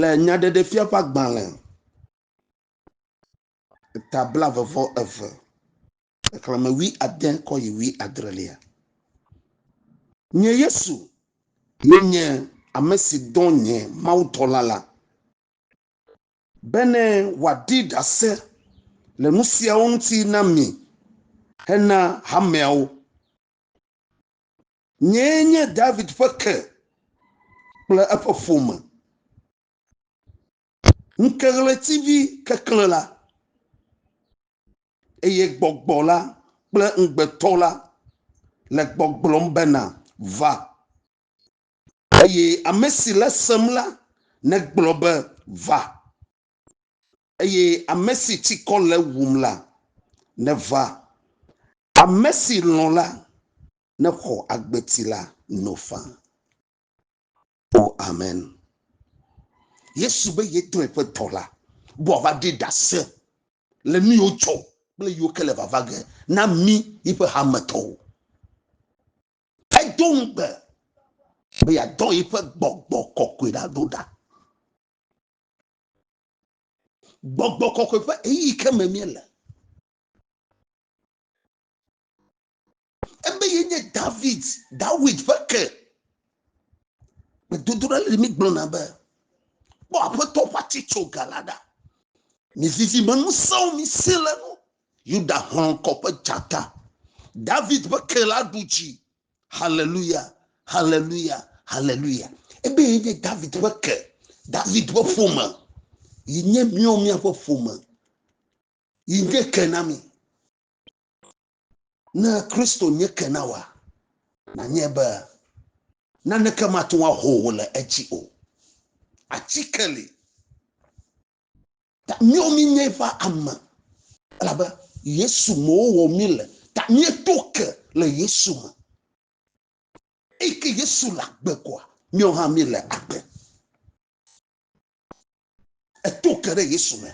Le nyaɖeɖefia ƒe agbalẽ eta blaeve vɔ eve, xexlẽme wui ade kɔ yi wui adrelia. Nye Yesu ye nye ame si dɔ nye mawudɔla la bene wòaɖi ɖase le nu siawo ŋuti na mi hena hameawo. Nyee nye David ƒe ke kple eƒe ƒome. Ŋkeɣletivi keklẽ la, eye gbɔgbɔ la kple ŋugbetɔ la le gbɔgblɔm bena, Va! Eye ame si le sem la negblɔ be, Va! eye ame si tsikɔ le ewum la, neva, ame si lɔ̃ la, nexɔ agbeti la no faa. O, amen. Yesu be yetɔe ƒe dɔla be wòava ɖi ɖase le nu yiwo dzɔ kple yiwo ke le vava ge na mí yiƒe hametɔwo. Edo ŋugbe be yeadɔ yiƒe gbɔgbɔ kɔkɔe ɖa ɖo ɖa. Gbɔgbɔ kɔkɔe ƒe eyi ke me míele. Ebe ye nye David, Dawid ƒe ke. Gbedodoɖa le mi gblɔna be, kpɔ aƒetɔ ƒe atsitso ga la ɖa. Mizizi me ŋusẽwo mi si le nu. Yuda hlɔ̃kɔ ƒe dzata. David ƒe ke la ɖu dzi. Haleluya, haleluya, haleluya. Ebe ye nye David ƒe ke, David ƒe ƒome, yi nye míɔ míaƒe ƒome, yi nye ke na mi. Ne Kristo nye ke na wa, nanye be naneke mate ŋu aho wò le edzi o. Atike li. Ta míawo míenye eƒe ame. Elabe Yesu me wowɔ mí le. Ta míeto ke le Yesu me. Eyi ke Yesu le agbe koa, míawo hã míele agbe. Eto ke ɖe Yesu me.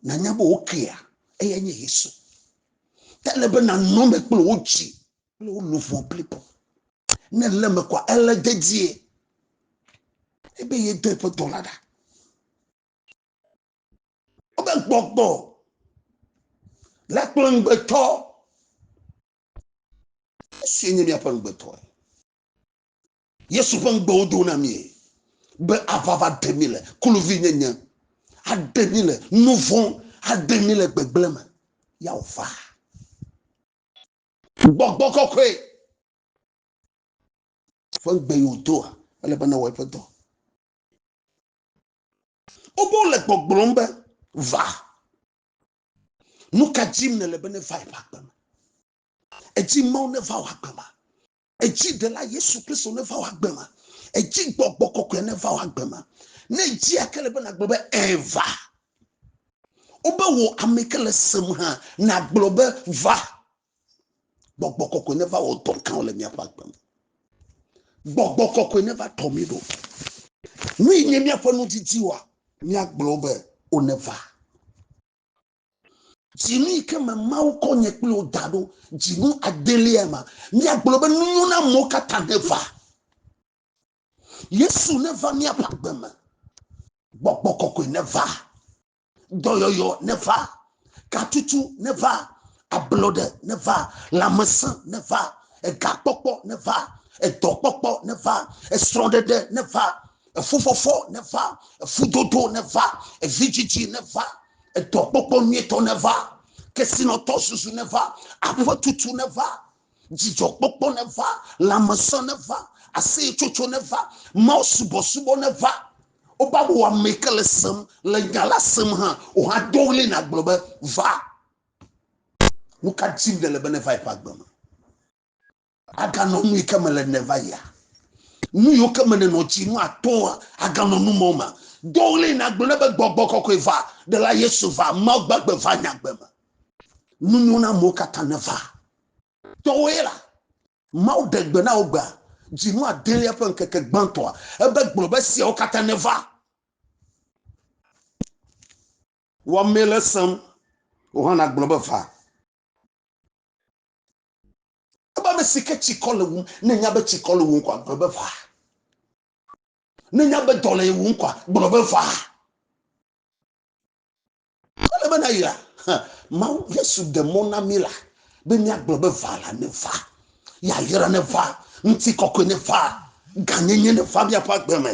Nanya be wo kea eya nye Yesu. Ke ele be nanɔ me kple wo dzi kple wo luʋɔ blibo. Ne ele me kɔa ele dedie ebe yedo eƒe dɔla ɖa. Wobe gbɔgbɔ la kple ŋugbetɔ. Esie nye míaƒe ŋugbetɔe. Yesu ƒe ŋugbewo do na mí be ava va ɖe mí le kluvinyenye, aɖe mí le nu vɔ̃, aɖe mí le gbegblẽ me. Ya wòva. Gbɔgbɔ kɔkɔe ƒe ŋugbe yi wòdoa, ele be nawɔ eƒe dɔ. Wobe wole gbɔgblɔm be, Va. Nu ka dim nèle be nevae ƒe agbe me? Edzi Mawu neva wò agbe ma. Edzi ɖela Yesu Kristo neva wò agbe ma. Edzi gbɔgbɔ kɔkɔe neva wò agbe ma. Ne edzi ake le be nagblɔ be eva. Wobe wò ame ke le sem hã nagblɔ be va. Gbɔgbɔ kɔkɔe neva wɔ dɔ gãwo le míaƒe agbe me. Gbɔgbɔ kɔkɔe neva tɔ mí ɖo. Nu yi nye míaƒe nudidi wa míagblɔ be woneva. Dzinu yi ke me Mawu kɔ nye kple wò da ɖo, dzinu adelia ma. Míagblɔ be nunyo na amewo katã neva. Yesu neva míaƒe agbe me. Gbɔgbɔ kɔkɔe neva. Dɔyɔyɔ neva. Katutu neva. Ablɔɖe neva. Lãmesẽ neva. Egakpɔkpɔ neva. Edɔkpɔkpɔ neva. Esrɔ̃ɖeɖe neva. Efufɔfɔ neva. Efudodo neva. Evidzidzi neva. Edɔkpɔkpɔ nyuitɔ neva, kesinɔtɔ susu neva, aƒetutu neva, dzidzɔkpɔkpɔ neva, lãmesẽ neva, aseyetsotso neva, Mawu subɔsubɔ neva. Woba wò ame yi ke le sem, le nya la sem hã o hã do ɣli nagblɔ be, Va! Nu ka dim nèle be neva yi ƒe agbe me? Aganɔ nu yi ke me le ne va yia? Nu yiwo ke me nènɔ dzi nu atɔ̃a, aganɔ nu mɔ ma? Do ɣli nàgblɔ ne be, Gbɔgbɔ kɔkɔe va, Ɖela Yesu va, Mawu gbagbe va nye agbe me. Nu nyo na amewo katã ne va. Tɔwòe la, Mawu ɖe gbe na wò gbea, dzinu adelia ƒe ŋkeke gbãtɔa, ebe, Gblɔ be esiawo katã ne va. Wɔ amee le sem, wò hã nàgblɔ be, Va. Ebe ame si ke tsikɔ le wum, ne nya be tsikɔ le wum kɔa, gblɔ be va. Ne nya be dɔ le ye wum kɔa, gblɔ be va. Ele be na yira, Mawu Yesu de mɔ na mi la, be míagblɔ be va la ne va, yayra ne va, ŋutikɔkɔe ne va, gãnyenye ne va míaƒe agbe me.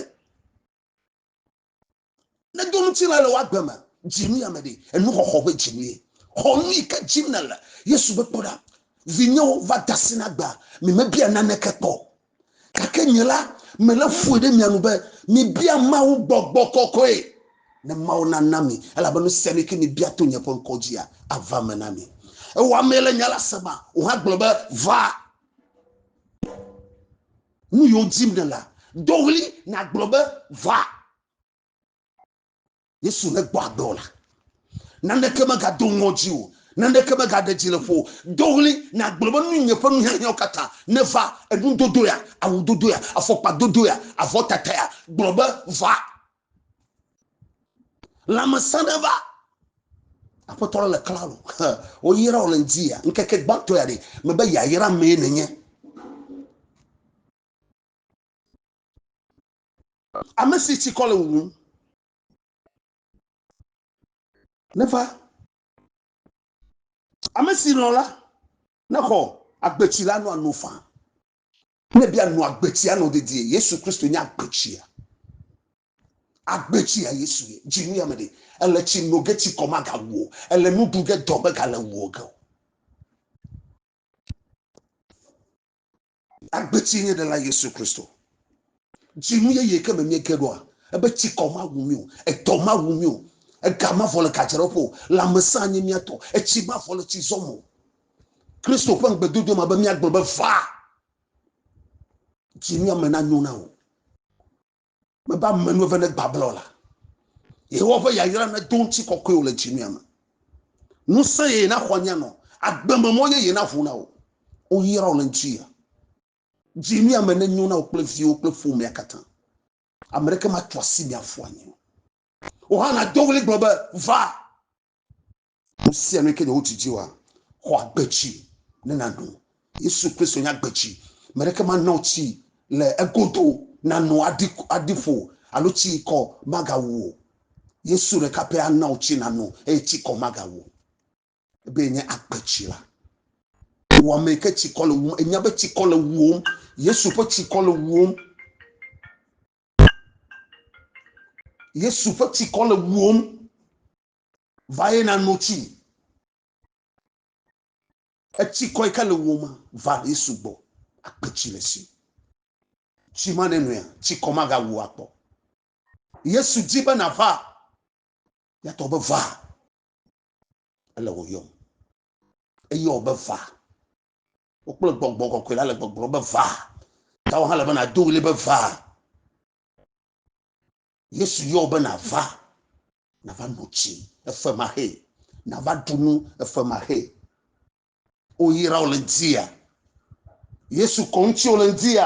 Ne do ŋutilã le woagbe me, dzinu ya me ɖe, enuxɔxɔ ƒe dzinu ye. Xɔ nu yi ke dim nèle. Yesu be, Kpɔ ɖa, vinyewo, va de asi na agbea, mimebia naneke kpɔ o. Gake nye la, mele ƒoe ɖe mia nu be, mibia Mawu gbɔgbɔ kɔkɔe, ne Mawu nana mi, elabe nu sia nu yi ke mibia to nye ƒe ŋkɔ dzia, ava eme na mi. Ewɔ amee le nya la sem o hã gblɔ be, Va. Nu yiwo dim nèlea, do ɣli nàgblɔ be, Va! Yesu negbɔ agbe o la, naneke megado ŋɔdzi o, naneke megaɖe dzi le ƒo o. Do ɣli nàgblɔ be, Nu nye ƒe nuhiahiãwo katã, neva! Enudodo ya, awudodo ya, afɔkpadodo ya, avɔtata ya, gblɔ be, Va! Lãmesẽ ɖe va. Aƒetɔ le klalo. Woyra wò le ŋdi ya. Ŋkeke gbãtɔ ya ɖe. Mebe yayra mee nènye. Ame si tsikɔ le wuwum. Neva. Ame si lɔ̃ la. Nexɔ agbetsi la nɔ ano faa. Ne bia nua agbetsia nɔ dedie, Yesu Kristo nye agbetsia. Agbetsia Yesu ye. Dzi nuya me ɖe. Èle tsi no ge tsikɔ magawu wò o. Èle nu ɖu ge dɔ megale wu wò ge o. Agbetsie nye Ɖela Yesu Kristo. Dzinu yeye ke me míege ɖoa, ebe tsikɔ mawu mí o, edɔ mawu mí o, ega mavɔ le gadzraɖoƒe o, lãmesẽ anye mía tɔ, etsi mavɔ le tsizɔ me o. Kristo ƒe ŋugbedodo ma be míagblɔ be va, dziŋe ame na nyo na wò. Mebe ame nu eve ne gbablɔ la, Yehowa ƒe yayra ne do ŋuti kɔkɔe wò le dziŋe me. Nusẽ yeye na xɔ nyanɔ, agbeme mɔ yeye na ʋu na wò. Woyra wò le ŋuti ya. Dziŋe ame ne nyo na wò kple viwo kple ƒomea katã. Ame ɖeke ma tso asi mia fu anyi o. Wò hã na do ɣli gblɔ be va. Nu sia nu ke nye wotsi dzi wa, xɔ agbe tsi ne nano. Yesu Kristo nye agbe tsi. Me ɖeke mana wò tsi le egodo nano aɖi aɖi ƒo alo tsi kɔ magawu o. Yesu ɖeka pɛ ana wò tsi nano eye tsi kɔ magawu. Ebe nye agbe tsi la. Wò ame yi ke tsi kɔ le wum, enya be tsi kɔ le wuwom. Yesu ƒe tsi kɔ le wuwom. Yesu ƒe tsikɔ le wuwom. va ye na no tsi etsi kɔe ka le wo ma va ye sugbɔ akpe tsi le si tsi ma ne nɔe tsi kɔ ma ga wu akpɔ yesu di be na va ya tɔ be va ele wo yɔm eye wo be va wo kple gbɔgbɔ kɔkɔe la le gbɔgblɔ be va ta wo hã le be na do wuli be va Yesu yɔ be nava, nava no tsi, efe ma he, nava ɖu nu, efe ma he. Woyra wo le ŋutia. Yesu kɔ ŋuti wo le ŋutia.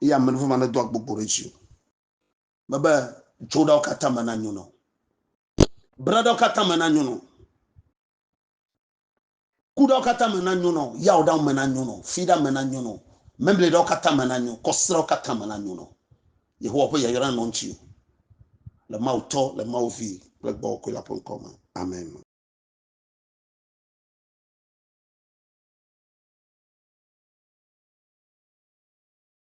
Eye ame ɖe ma nedo agbogbo ɖe dzi o. Mebe dzoɖawo katã me na nyono. Braɖawo katã me na nyono. Kuɖawo katã me nanyo na wò, yawɔɖawo me nanyo na wò, fiɖa me nanyo na wò, Mɛmlɛɖawo katã me nanyo, kɔsiɖawo katã me nanyo na wò. Yehowa ƒe yayra nanɔ ŋutiwò. Le Mawu Tɔ, le Mawu Vi kple Gbɔgbɔ Kɔkɔe la ƒe ŋkɔ me. Amen.